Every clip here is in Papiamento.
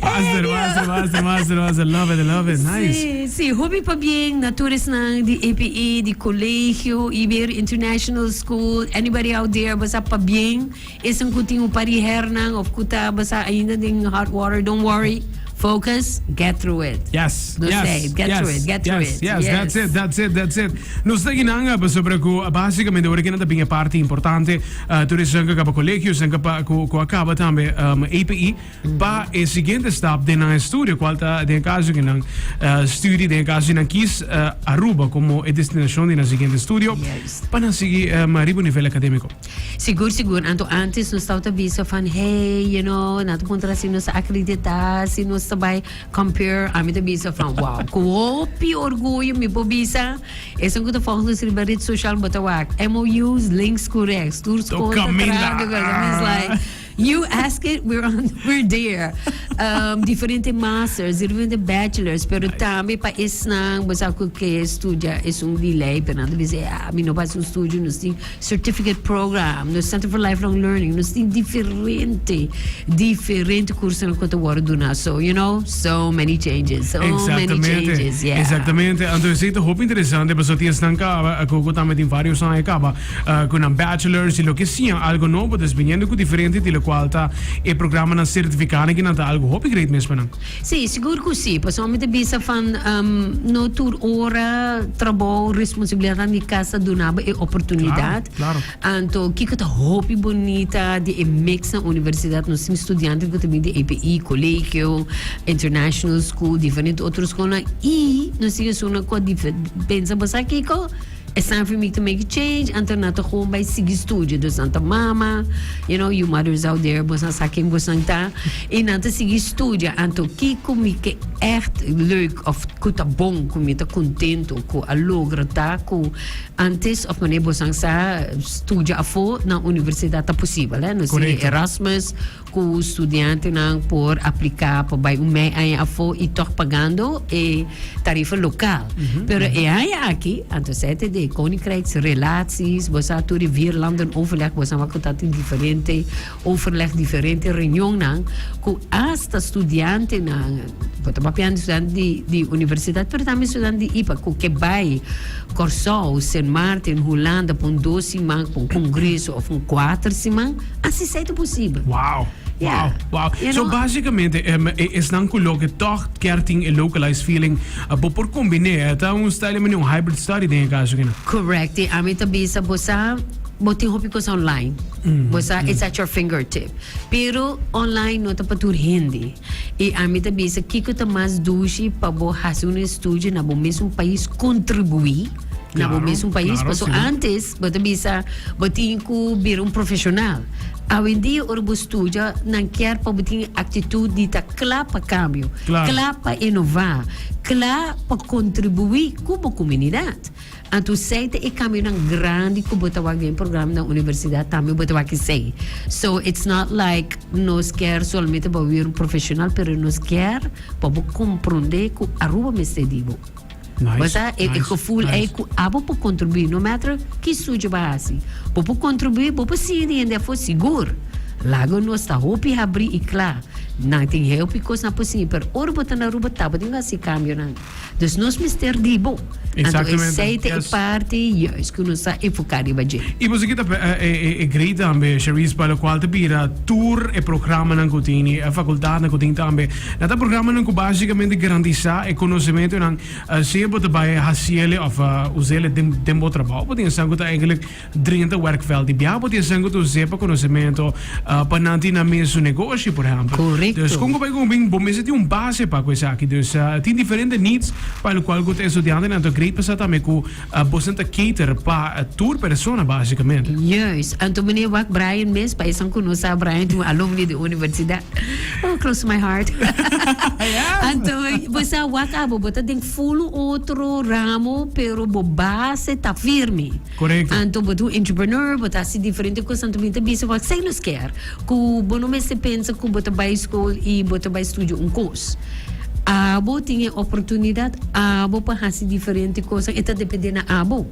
Master, master, master, master, master. Love it, love it. Nice. Sí, sí, hopi pabien na tur esnan di APE, di colegio, Iber International School, anybody out there a basa pabien, esnan cu tin un par di hernan of cu ta basa ainda den hot water, don't worry, focus, get through it. Yes, Nos yes, say, get yes, through it, get through yes, it. yes, that's it, that's it, that's it. Nos ta guinanga pasobra cu basicamente ora que nan ta bin e parti importante Tur esnan ku a kaba kolegio, esnan ku a kaba tambe APE, pa e siguiente stap den nan estudio, kual ta den e kaso di nan studi, den e kaso di nan kis Aruba komo e destinashon di nan siguiente estudio, pa nan sigui riba nivel akademiko. Sigur, sigur. Anto antes nos tabata bisa van, hey, you know, nan ta puntra si nos ta akreditá, si nos ta bai compare. Ami ta bisa van, wow, ku hopi orguyo mi por bisa. Esnan ku ta fòk nos riba ret social bo ta wak. MOUs, links ku rèks, tur skol ta traha di kos. Mi is like, you ask it, we're on we're there. Diferente masters, diferente bachelors, pero tambe pa esnan bo sa ku ke studia esun di lei, pero nan ta bisa, mi no por hasi un studio, nos tin Certificate program, no es tantu for lifelong learning, nos tin diferente diferente kursonan ku ta wòrdu duna so you know so many changes so many Exactamente, changes yeah. exactamente. Anto esei ta hopi interesante paso ti esnan caba cu cu tambe tin varios aña caba ah, cu nan bachelors y loke sian algo nobo, dus biniendo cu diferente di locual ta e programanan certificanan ki nan ta algo hopi great mes pa nan. Sí, sigur cu sí, pasobra mi ta bisa van no tur ora trabou, responsabilidad di cas ta dunaba e oportunidad, anto kico ta hopi bonita di e mexnan universidad nos tin studiantenan cu ta bini di APE, Colegio, International School, diferente otro schoolnan y nos tin esunnan cu a pensa bo sa kico? Esnan fin make to make a change anto nan ta gewoon bai sigui studio dus nan ta mama you know you mothers out there boes nan sa ken boesnan ta y nan ta sigui studia anto kico mi ke echt leuk of cu ta bon cu mi ta contento cu a logra ta cu antes of mane boesnan sa studia afo na universidad ta posibel he no si Correcto. Erasmus Cu studiantenan por aplica pa bay un mei aña afo y toch pagando e tarifa local. Pero e aña aki, anto sa e ta den Koninkrijks Relaties, bo sa tur e vier landen overleg, bo sa wak cu ta tin diferente overleg, diferente reunionnan, cu hasta studiantenan, Bo ta papiando estudiante di di universidad pero tambe estudiante di ipa cu ke bay Corsou, Sint Maarten, Hulanda pa un dos siman pa un congreso of un cuater siman asi sa e ta posibel. Wow. Yeah. Wow, wow. You know? So basicamente em, e- e- esnan ku lo ke toch kier tin e localized feeling eh, bo por kombine eh, ta un style mani un hybrid study den e kaso kina. Correct. E ami ta bisa bosa bo tin hopi cosa online. Bosa it's at your fingertip. Pero online no ta pa tur hindi. I ami ta bisa kiko ta mas dushi pa bo hasi un estudio na bo mes un pais kontribuí na bo mes un pais paso antes bo ta bisa bo tin ku bira un profeshonal awendia ora bo studia nan kier pa bo tin e aktitut di ta kla pa kambio kla pa inová kla pa kontribuí ku bo komunidat. Anto sei ta e cambionan grandi cu bo ta wak den e programa na universidad tambe bo ta wak esey. So it's not like nos kier solamente bo wiri un profesional pero nos kier pa bo compronde cu Aruba mester di bo. Bo sa e gevoel ey cu abo por contribui no matter ki sujo bo a haci bo por contribui bo por sigui di hende afo sigur lago nos ta hopi habri y cla nan tin heupicos nan por sigui pero ora bo ta na Aruba tabatin haci e cambionan. Dus nos mester di bo. Anto esei ta e parti juist ku nos ta enfoká riba dje. I boso kita e grei tambe, Sharice, pa lokual ta bira tur e programanan ku tin i e fakultatnan ku tin tambe. Nan ta programanan ku básikamente garantisá e konosementunan, sea bo ta bai hasiel e òf uz'el den bo trabou. Bo tin esnan ku ta eigenlik. Drinta e werkveld di Biabo ti esenko tur zee pa konosementu pa nan tin nan mes su negoshi, por ehempel. Dus kon ku bai ku bin, bo mester tin un base pa ku esaki. Dus tin diferente needs pa el kual ku ta estudiantenan ta great pa sa tambe ku bosan ta cater pa tur persona basikamente. Juis. Anto meneer wak Brian mes, pa esan ku no sa, Brian tin un alumni di universidat. Oh, close to my heart. Anto bo sa wak abo bo ta den full un otro ramo pero bo base ta firme. Anto bo ta un entrepreneur, bo ta hasi diferente kos, anto mi ta bisa bo esei nos kier ku bo no mester pensa ku bo ta bai skol i bo ta bai studia un kos. Abo tin e oportunidat abo pa hasi diferente kos, e ta depende na abo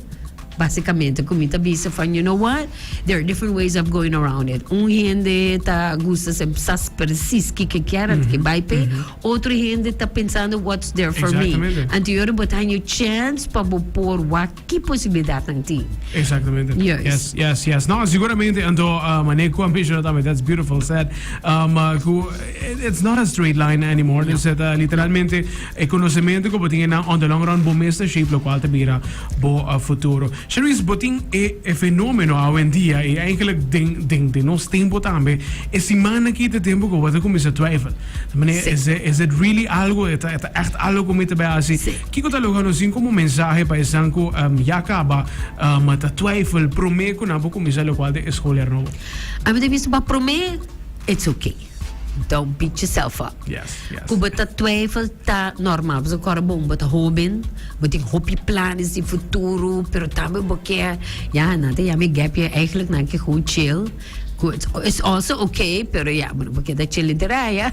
basikamente. Ku mi ta bisa van you know what, there are different ways of going around it. Un hende ta gusta sa sa persis ke ke kier anto ke bai p'e, otro hende ta pensando what's there for me. Anto yori bo ta haña chance pa bo por wak. ki posibilidatnan tin? Exactamente. Juist. Yes, yes, yes. No, seguramente, anto uh, mané ku ambisyon tambe, that's beautiful said. Um, uh, ku, it- it's not a straight line anymore. Dus het, uh, literalmente, e conocemento ku bo tin na on the long run, bo mes ta shape lo cual te bira bo uh, futuro. Sharice, bo tin e, e fenomeno awendia, e eigenlijk den, den, den nos tempo tambe, e semana ki te tempo ku bo te comienza twijfel. Meneer, Sí. is, it, is it really algo? Het, het echt algo ku mi te bij asi? Sí. Kiko ta logra nos tin komo mensahe pa esnan ku ya kaba ta twijfel promé ku nan por kuminsá lokual den e skol herno? A mi ta bisa pa promé it's ok. Don't beat yourself up. Ku bo ta twijfel ta normal pasobra kor bo bo ta hóben, bo tin hopi planes di futuro, pero tambe bo ke ya nan ta yama e gap year, eigenlijk nan ke gewoon chill. It's also okay, pero ya, bo no por keda chele dera ya.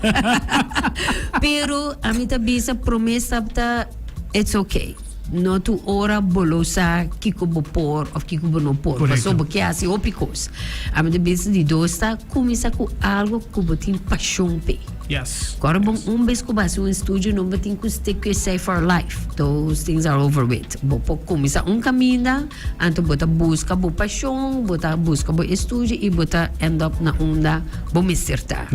pero a mi ta bisa prome stap ta it's okay. No tu ora bo lo sa kiko bo por of kiko bo no por. Correcto. Paso bo ke hasi hopi cos. A mi ta bisa di dos ta cuminsa cu algo cu bo tin pasion pe. Yes. Cora bon un bes cu bo hasi un estudio no bo tin cu stick cu esey for life. Those things are over with. Bo por cuminsa un caminda. Anto bo ta buska bo pashon, bo ta buska bo estudio y bo ta end up na unda bo mester ta.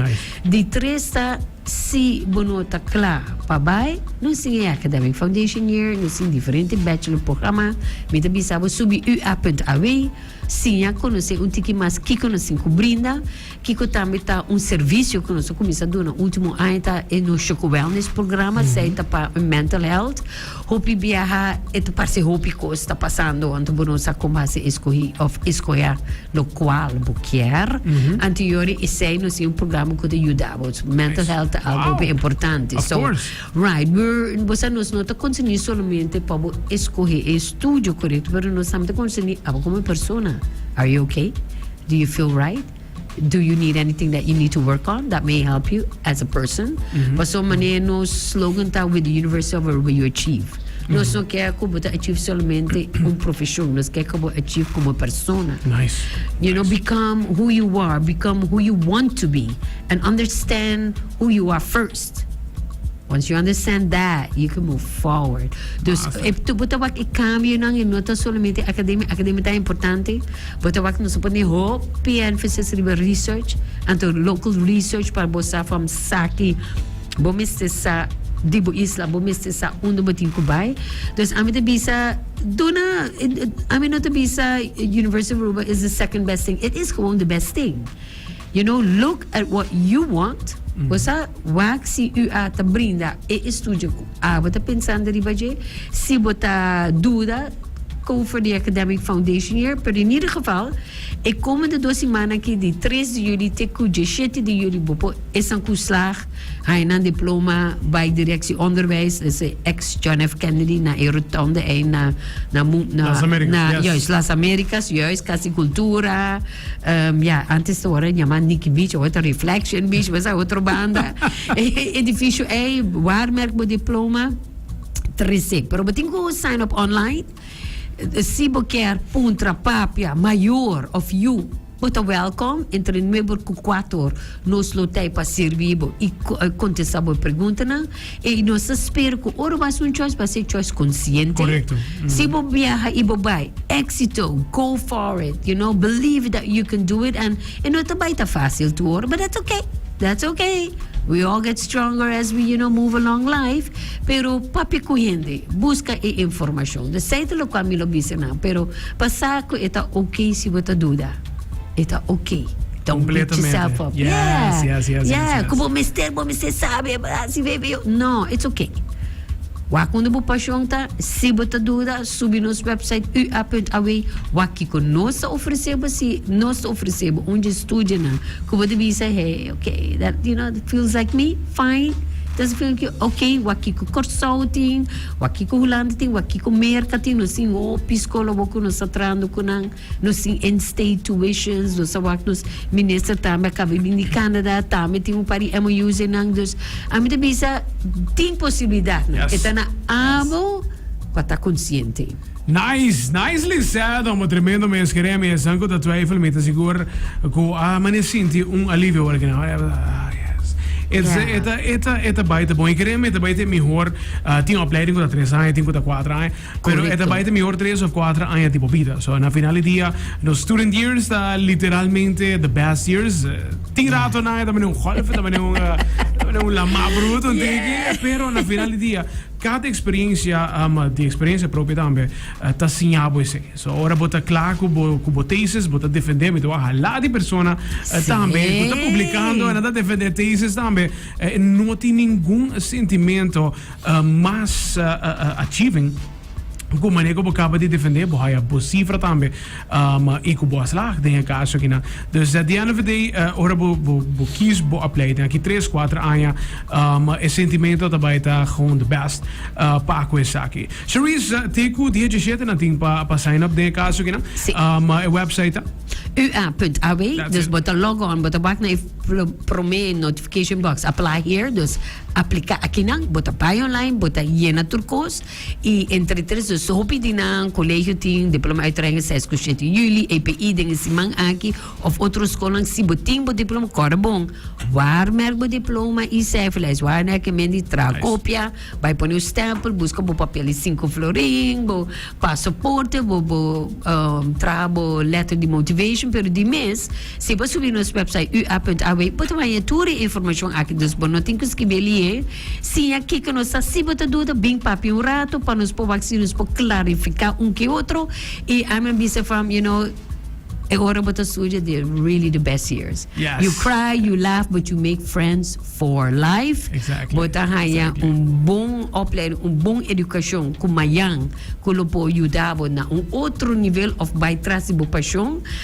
Di tres ta, si bo no ta cla pa bay, nos tin e academic foundation year, nos tin diferente bachelor programa, mi ta bisa bo subi ua punt away, siña conoce un tiki mas kico nos tin cu brinda. Kiko tambe ta un servicio cu nos a cuminsa duna ultimo aña ta e no Choco Wellness programa, esey ta pa mental health. Hopi biaha e ta parce hopi cos ta pasando anto bo no sa con base e scohi of e scoya locual bo kier. Anto yori esey no sin un programa cu ta yuda bo. Mental health ta algo hopi importante. Of course. So, right, we, bo sa nos no ta concerni solamente pa bo escohi e estudio corecto, pero nos tambe ta concerni abo como persona. Are you okay? Do you feel right? Do you need anything that you need to work on that may help you as a person? Pasobra manera e nos slogan ta With the universe of whatever you achieve. Nos no ker ku bo ta achieve solamente un profeshon. Nos ker ku bo achieve komo persona. Nice. You know, become who you are, become who you want to be, and understand who you are first. Once you understand that, you can move forward. Dus, Massa. e, tu bo ta wak e cambionan e no ta solamente academia. Academia ta importante, Bo ta wak nos a pone hopi emphasis riba research, anto local research para bo sa from saki bo mester sa di bo isla, bo mester sa unda bo tin cu bay. Dus ami ta bisa duna, ami no ta bisa University of Aruba is the second best thing, it is gewoon the best thing. You know look at what you want bo sa wak si u a ta brinda e estudio ku abo ta pensando riba dje si bo ta duda go for the academic foundation year pero in ieder geval e komende dos simana aki di tres di yuli te ku dieshete di yuli bo por esan ku slaag haña nan diploma bai directie onderwijs na e ex John F Kennedy na e rotonde ei na na na juist Las Americas juist casicultura. Um, ya, antes to ora llama Nicky Beach, ahora ta Reflection Beach, mas a otro banda. Edificio A, waarmerk bo diploma, trece. Pero bo tin ku sign up online. Si bo kier puntra, papia, mayor of you, bo ta welcome entre nuebe ku kuator. Nos lo tei pa sirbi bo i kontesta bo preguntanan. E nos ta spera cu ora bo haci un choice, bo haci e choice consciente. Correcto. Mm. Si bo biaha y bo bay, exito, go for it, you know, believe that you can do it and e no ta bay ta facil tur ora, but that's okay, that's okay. We all get stronger as we, you know, move along life, pero papia cu hende, busca e informacion. Desaita locual mi lo bisa nan, pero pa sa cu e ta okay si bo ta duda. E ta ok. Ta un pichi self-help. Yes, yes, yes, yes. Ku bo mester, bo mester sabe. Asi be, be. No, it's ok. Wak unda bo pashon ta. Si bo ta duda, subi nos website ua.aw. Wak kiko nos ta ofresé bo. Si nos ta ofresé bo un dje studionan ku bo ta bisa, hey, ok, that, you know, feels like me, fine. Doesn't feel like you, ok. Wak kiko Kòrsou tin, wak kiko Hulanda tin, wak kiko Merka tin. Nos tin hopi skol awor ku nos ta trahando ku nan. Nos tin in-state tuitions, nos a wak nos minister tambe a kaba di bin di Canada, tambe tin un par di MOU's einan, dus ami ta bisa tin posibilidadnan, e ta na abo pa ta konsiente. Nice, nice Lisette, amo tremendo mes kerem y esan cu ta twijfel mi ta sigur cu a mane sinti un alivio awor kena ora ah yes it's yeah. e ta e ta e ta bai ta bon y kerem e ta bai ta e mihor uh tin opleiding cu ta tres aña tin cu ta cuatro aña Pero e ta bai ta mihor tres of cuatro aña di bo bida. So na final di dia, nos student years ta literalmente the best years. Tin rato nan e ta mane un golf, e ta mane un, e ta mane un lamá bruto, un tiki. Pero na final di dia, cada experiencia, um, di experiencia propia tambe, eh, ta siña bo esei. So ora bo ta cla cu bo, cu bo thesis, bo ta defendé, mi ta wak hala di persona eh, tambe cu ta publicando, e nan ta defendé thesis tambe, eh, no tin ningun sentimento. mas achieving ku mane ku bo kaba di defende bo haya bo sifra tambe i ku bo a slag den e kaso akinan dus at di end of di day ora bo bo kies bo apply den aki tres kuater aña e sentimento ta bai ta gewoon di best pa ku esaki Charisse te ku diecisiete nan tin pa pa sign up den e kaso akinan e website ta ua punt aw dus bo ta log on bo ta wak na e prome notification box apply here dus. Aplica aki nan, bo ta bay online, bo ta yena tur cos y entre tres dos so hopi di nan colegio tin diploma uitrenge seis cu shete juli, APE den e siman aki of otro scolnan si bo tin bo diploma core bon war merk bo diploma y cijferlijst war merk e men di traha copia bay pone un stempel busca bo papel di cinco florin bo pasaporte bo traha bo letter di motivation pero di mes. Si bo subi nos website ua.aw, bo ta baña tur e informashon aki, dus bo no tin ku skibi e lihe. Siña kiko nos ta. Si bo ta duda, bin papia un ratu pa nos proba si nos por klarifiká un ke otro. I ami a bisa from, you know, e ora bo ta studia they're really the best years. Yes. You cry, you laugh, but you make friends for life. Exactly. Bo ta haña un bon opleiding, un bon edukashon ku mañan ku lo por yuda bo na un otro nivel òf bai tras di bo pashon.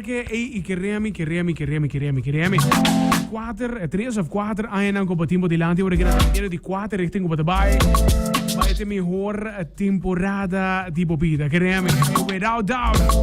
Ke ei i keremi, keremi, keremi, keremi, keremi. Kuater, tres of kuater añanan ku pa tin por dilanti ora ke nan ta miedu di kuater richting ku pa ta bai. Bai te mihor temporada di bo bida, keremi. Without doubt.